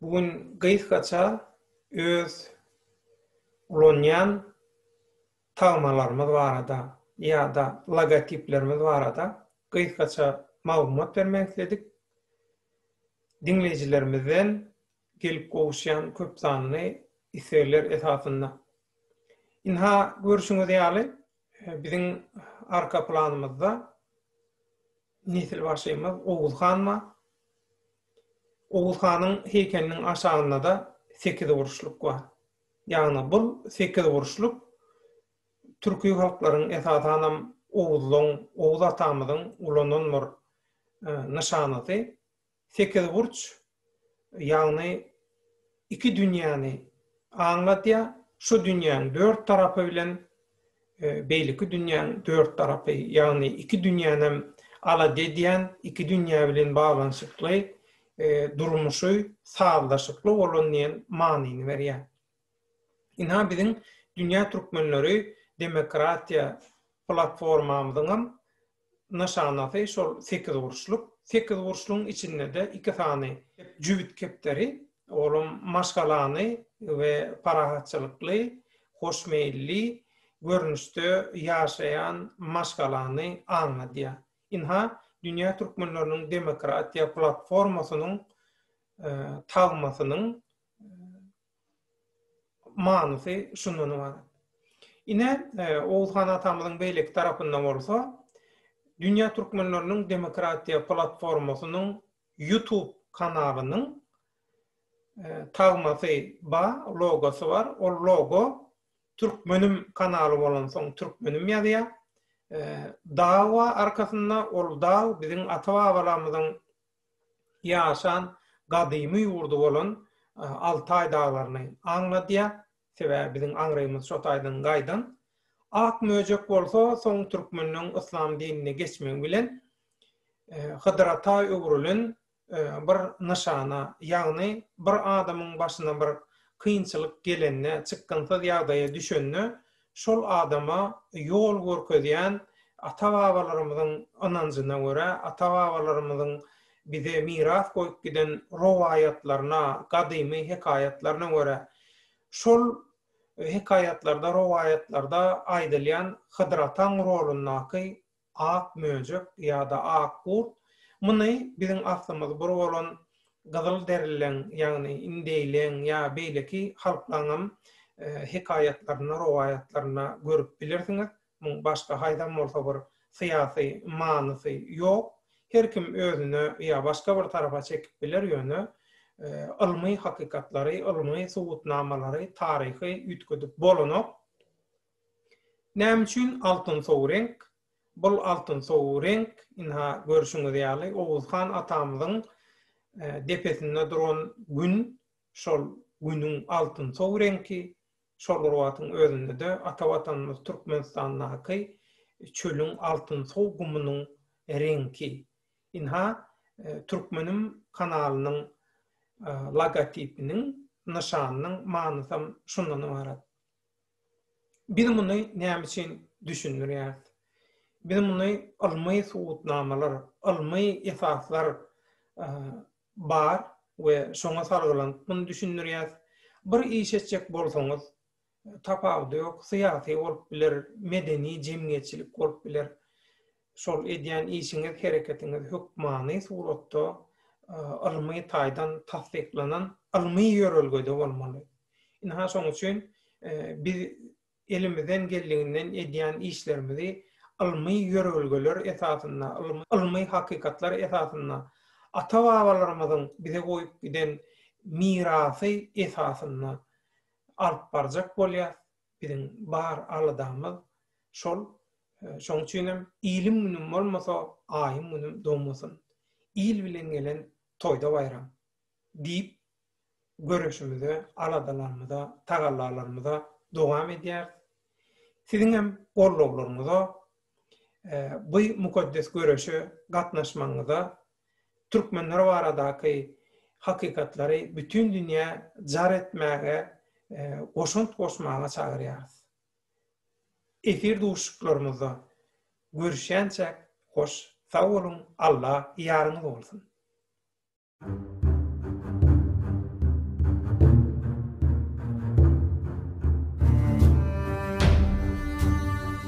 Bu gün gysgaça öz ulanýan tagmalarymyz barada ýa-da logotiplerimiz barada gysgaça maglumat bermek isledik. Diňleýjilerimizden gelip gowuşýan köp sanly islegler esasynda. Ynha, görşüňiz ýaly, biziň arka planymyzda Nesilbaşymyz Oguz han bar. Oguz hanyň heýkeliniň aşagynda-da sekizburçluk bar. Ýagny bu sekizburçluk türki halklaryň, esasanam oguzlaň, Oguz atamyzyň ulanan bir nyşanasy. Sekizburç, ýagny iki dünýäni aňladýar, şu dünýäň dört tarapy bilen beýleki dünýäň dört tarapy, ýagny iki dünýänem alada edýän, iki dünýä bilen baglanyşykly durmuşy sazlaşykly bolan diýen manyny berýär. Ynha biziň Dünýä türkmenleri demokratiýa platformamyzyňam nyşanasy şol sekizburçluk. Sekizburçlugyň içinde-de iki sany jübüt kepderi, olam maşgalany we parahatçylykly, hoşmeýilli görnüşde ýaşaýan maşgalany aňladýar. Ynha, dünýä türkmenleriniň demokratiýa platformasynyň tagmasynyň manysy şundan ybarat. Ine, e, Oguz han atamyzyň beýleki tarapynda bolsa, Dünýä türkmenleriniň demokratiýa platformasynyň YouTube kanalynyň e, tagmasy ba, logosy bar. Ol logo türkmenim kanaly bolansoň türkmenim ýazýar. E, dag bar arkasynda, ol dag biziň ata-babalarymyzyň ýaşan gadymy ýurdy bolan Altaý daglaryny aňladýar, sebäbi biziň aňrymyz şo taýdan gaýdan. Ak möjek bolsa soň türkmenleň yslam dinine geçmegi bilen Hydyrata öwrülen bir nyşana, ýagny bir adamyň başyna bir kynçylyk gelende, çykgynsyz ýagdaýa düşende şol adama ýol görkezýän ata-babalarymyzyň ynanjyna görä, ata-babalarymyzyň bize miras goýup giden rowaýatlaryna, gadymy hekaýatlaryna görä, şol hekaýatlarda, rowaýatlarda aýdylýan Hydyr ataň rolundaky Ak möjek ýa-da ak gurt, muny biziň aslymyz bir bolan gyzyl derilileň, ýagny indeýleň ýa beýleki halklaryňam hekaýatlarynda, rowaýatlarynda görüp bilirsiňiz. Muň başga haýsam bolsa bir syýasy manysy ýok. Her kim özüne ýa başga bir tarapa çekip biler, ýöne ylmy hakykatlary, ylmy subutnamalary, taryhy üýtgedip bolanok. Näme üçin altynsow reňk? Bul altynsow reňk, ynha, görşüňiz ýaly, Oguz han atamyzyň depesinde duran Gün, şol Günüň altynsow reňki, şol bir wagtyň özünde-de ata Watanymyz Türkmenistandaky çölüň altynsow gumunyň reňki. Ynha, Türkmenim kanalynyň logotipiniň, nyşanynyň manysam şundan ybarat. Biz muny näme üçin düşündirýäris? Biz muny ylmy subutnamalar, ylmy esaslar bar we şoňa salgylanyp muny düşündirýäris. Bir iş etjek bolsaňyz, tapawudy ýok, syýasy bolup biler, medeni, jemgyýetçilik bolup biler. şol edýän işiňiz, hereketiňiz hökmany suratda ylmy taýdan tassyklanan ylmy ýörelgede bolmaly. Ynha şoň üçin biz elimizden geldiginden edýän işlerimizi ylmy ýörelgeler esasynda, ylmy hakykatlar esasynda, ata-babalarymyzyň bize goýup giden mirasy esasynda alyp barjak bolýar. Biziň bar aladamyz şol. Şoň üçinem ilim günüm bolmasa, aýym günüm domasyn. Il bilen gelen toýda baýram. Diýip, göreşimize, aladalarymyza, tagallalarymyza dowam edýäris. Siziňem gollawlaryňyza, bu mukaddes göreşe gatnaşmagyňyza türkmenler baradaky hakykatlary bütin dünýä jar etmäge goşant goşmaga çagyrýarys. Efir duşuşyklarymyzda görüşýänçäk hoş sag boluň Alla ýaryňyz bolsun.